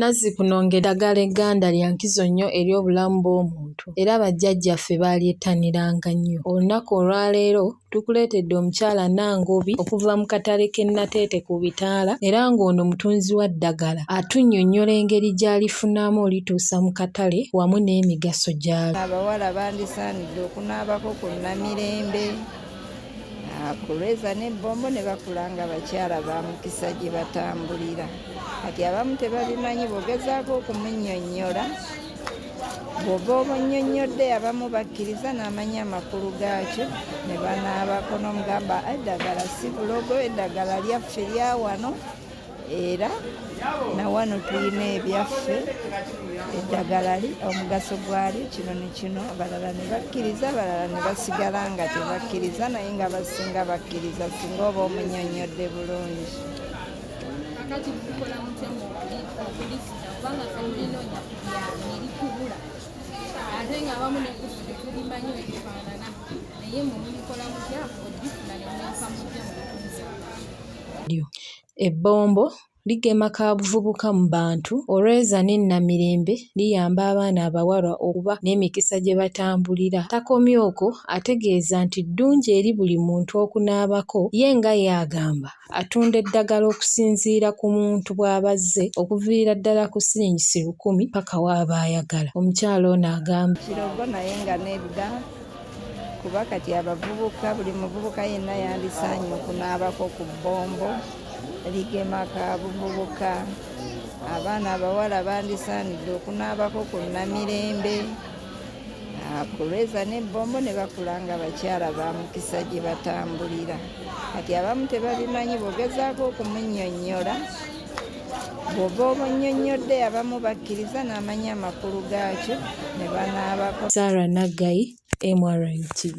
Nazzikuno ng'eddagala egganda lya nkizo nnyo eri obulamu bw'omuntu era bajjajjaffe baalyettaniranga nnyo. Olunaku olwaleero tukuleetedde omukyala Nangobi okuva mu katale k'e Nateete ku bitaala era ng'ono mutunzi wa ddagala atunnyonnyola engeri gy'alifunamu olituusa mu katale wamu n'emigaso gy'alyo. Abawala bandisaanidde Nze okunaabako ku Namirembe ah, ku Lweza ne Bombo ne bakula nga bakyala ba mukisa gye batambulira. Kati abamu tebabimanyi bw'ogezaako okumunnyonnyola bw'oba obunnyonnyodde abamu bakkiriza n'amanya amakulu gaakyo ne banaabako n'omugamba eddagala si bulogo eddagala lyaffe lya wano era na wano tulina ebyaffe eddagala li omugaso gwali kino ne kino abalala ne bakkiriza abalala ne basigala nga tebakkiriza naye nga basinga bakkiriza singa oba omunyonnyodde bulungi ate nga abamu nekusu tetulimanyi ebifaanana naye mumubikola mutya odifuna nemuyaka mutya lyo. Ebbombo ligema kaabuvubuka mu bantu, Olweza ne Namirembe liyamba abaana abawala okuba n'emikisa gye batambulira. Takomye okwo ategeeza nti ddungi eri buli muntu okunaabako ye nga y'agamba atunda eddagala okusinziira ku muntu bw'aba azze okuviira ddala ku siringisi lukumi ppaka w'aba ayagala. Omukyala ono agamba. Kirogo naye nga nedda. kuba kati abavubuka buli muvubuka yenna yandisaanye okunaabako ku bbombo ligema ka buvubuka abaana abawala bandisaanidde okunaabako ku namirembe kulweza n'ebbombo ne bakula nga bakyala ba mukisa gye batambulira kati abamu tebabimanyi bogezaako okumunyonnyola bw'oba obunnyonnyodde abamu bakkiriza n'amanya amakulu gaakyo ne banaabako. Sarah Naggayi, MRN TV.